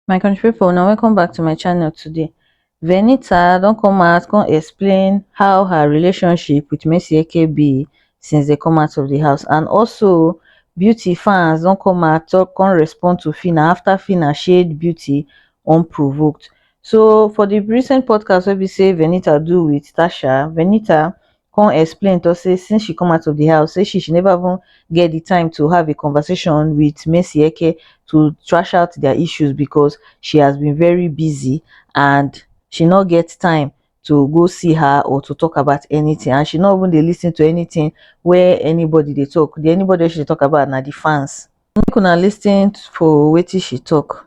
my country people, now welcome back to my channel today venita don't come out come explain how her relationship with Mercy Eke be since they come out of the house and also beauty fans don't come out talk come respond to fina after fina shade beauty unprovoked so for the recent podcast wey be say venita do with tasha venita come explain tok say since she come out of di house say she she neva even get di time to have a conversation wit madueke to trash out dia issues becos she has been very busy and she no get time to go see her or to tok about anytin and she no even dey lis ten to anytin wey anybody dey tok di anybody wey she dey tok about na di fans make una lis ten to wetin she tok.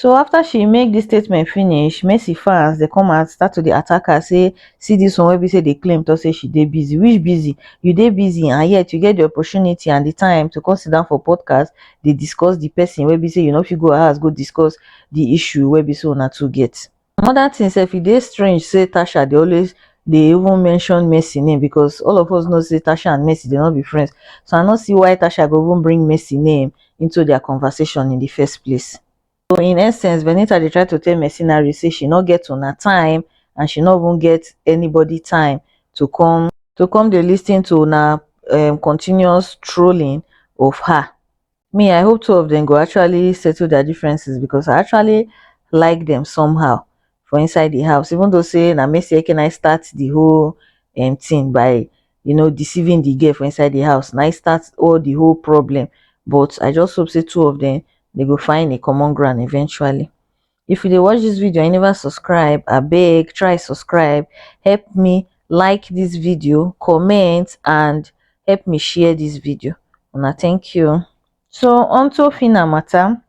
so afta she make dis statement finish messi fans dey come out start to dey attack her say see dis one wey be say dey claim tok say she dey busy which busy you dey busy and yet you get di opportunity and di time to come sit down for podcast dey discuss di pesin wey be say you no fit go her house go discuss di issue wey be say una two get Another thing sef, e dey strange say Tasha dey always dey even mention Mercy name because all of us know say Tasha and Mercy dey not be friends. So I no see why Tasha go even bring Mercy name into their conversation in the first place. So in essence, Venita dey try to tell Mercenary say she no get una time and she no even get anybody time to come to come dey listen to una um, continuous trolling of her. me i hope two of dem go actually settle their differences because i actually like dem somehow for inside the house even though say na mercy ekenai start the whole um, thing by you know deceiving the girl for inside the house na e start all the whole problem but i just hope say two of them they go find a common ground eventually if you dey watch this video and you never subscribe abeg try subscribe help me like this video comment and help me share this video una thank you so onto phyna matter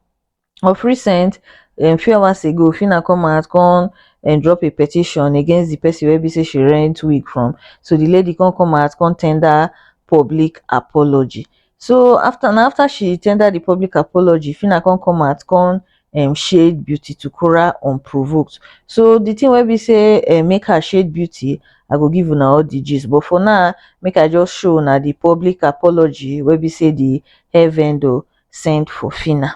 of recent um, few hours ago phyna come out come and drop a petition against the person where be say she rent wig from so the lady can come out can tender public apology so afta na afta she tender di public apology phyna come come out come um shade beauty to kura unprovoked so di tin wey be say um make her shade beauty i go give una all di gist but for now make i just show una di public apology wey be say di hair vendor send for phyna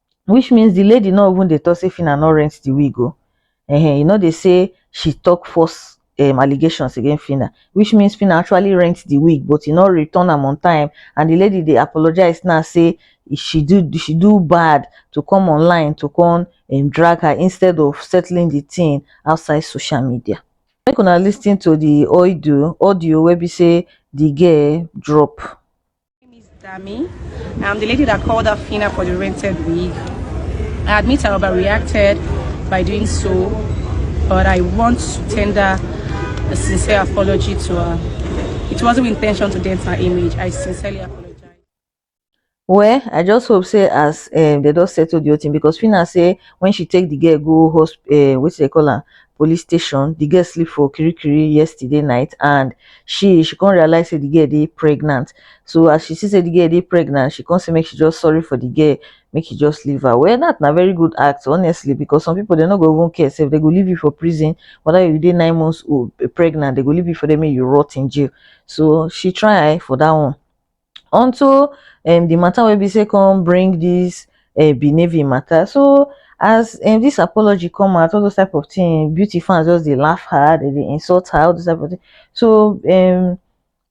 which means the lady no even dey talk say Phyna no rent the wig o. Um e no dey say she talk false um allegations against Phyna which means Phyna actually rent the wig but e no return am on time and the lady dey apologize now say she do she do bad to come online to come um drag her instead of settling the thing outside social media. Make una lis ten to the audio audio wey be say the girl drop. My name is Dami. I'm the lady that called Afina for the rented wig. I admit I overreacted by doing so, but I want to tender a sincere apology to her. It wasn't my intention to dent her image. I sincerely apologize. well i just hope say as um, they don settle the whole thing because fina say when she take the girl go hosp um, wetin they call am police station the girl sleep for kirikiri yesterday night and she she come realize say the girl dey pregnant so as she see say the girl dey pregnant she come say make she just sorry for the girl make she just leave her well that na very good act honestly because some people they no go even care sef they go leave you for prison whether you dey nine months old eh, pregnant they go leave you for there make you rot in jail so she try for that one unto um the matter wey be say come bring this um benevi matter so as um this apology come out all those type of thing beauty fans just dey laugh her they dey insult her all those type of thing so um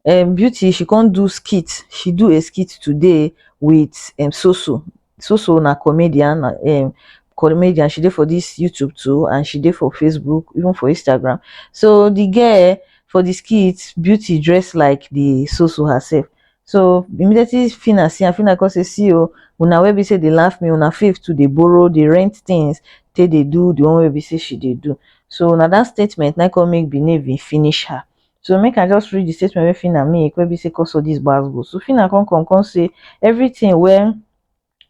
um beauty she come do skit she do a skit today with um soso so so na comedian um comedian she dey for this youtube too and she dey for facebook even for instagram so the girl for the skit beauty dress like the so so herself so immediately fina see am fina come say see o una wey be say dey laugh me una faith to dey borrow dey rent things take dey do the one wey be say she dey do so na that statement na come make benin finish her So make I just read the statement wey Fina make wey be say cause all this gbas gbos. So Fina come come come say everything wey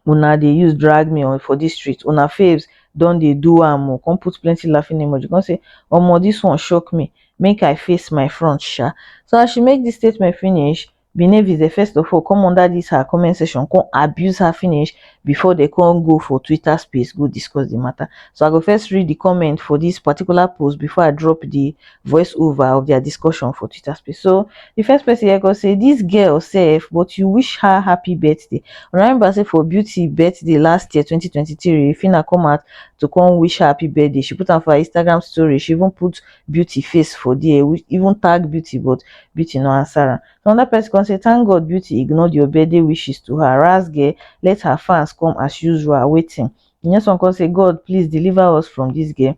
una dey use drag me on for this street una faves don dey do am o come put plenty laughing emoji come say omo this one shock me make I face my front sha. So as she make this statement finish Benevis dey first of all come under this her comment section come abuse her finish before they come go for Twitter space go discuss the matter. So I go first read the comment for this particular post before I drop the voice over of their discussion for Twitter space. So the first person here go say this girl safe, but you wish her happy birthday. Remember say for beauty birthday last year 2023, Fina come out to come wish her happy birthday. She put on for her Instagram story. She even put beauty face for there we even tag beauty but beauty no answer am so another person come say thank god beauty ignored your birthday wishes to her ras girl let her fans come as usual waiting the next one come say god please deliver us from this girl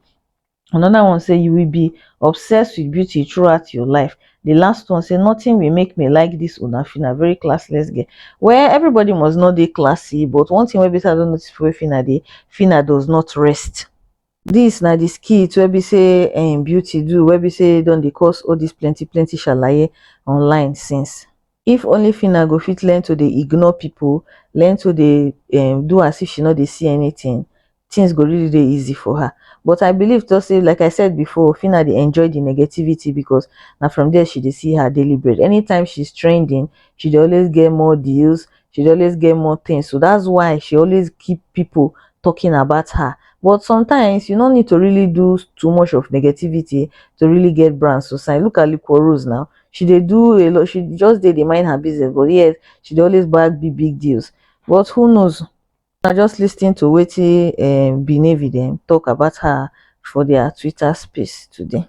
another one say you will be obsessed with beauty throughout your life the last one say nothing will make me like this una fina very classless girl well everybody must not be classy but one thing wey be say i don't notice for fina dey fina does not rest Dis na di skit wey be sey um Beauty do wey be sey don dey cause all dis plenty plenty shalaye online since. If only Phyna go fit learn to dey ignore pipu, learn to dey um do as if she no dey see anything, things go really dey easy for her. But I believe talk sey like I said before, Phyna dey enjoy di negativity because na from there she dey see her daily bread. Anytime she's trending, she dey always get more deals, she dey always get more things so that's why she always keep people talking about her but sometimes you no need to really do too much of negativity to really get brand so sign look at liquor rose now she dey do a lot she just dey dey mind her business but yes she dey always bag big big deals but who knows na just lis ten to wetin um Benevi dem talk about her for their twitter space today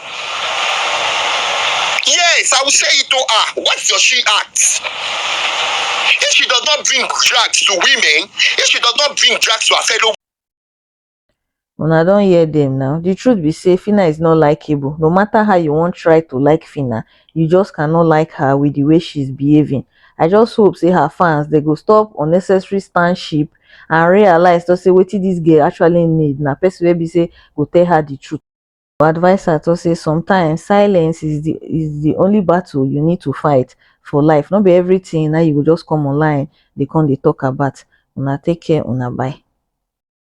Yes, I will say it to her. What does she ask? If she does not bring drugs to women, if she does not bring drugs to her fellow una don't hear them now the truth be say fina is not likable no matter how you won't try to like fina you just cannot like her with the way she's behaving i just hope say her fans they go stop unnecessary stanship and realize to say what this girl actually need na person wey be say go tell her the truth Our adviser talk say sometimes silence is the is the only battle you need to fight for life. No be everything now you go just come online they come they talk about. Una take care, una bye.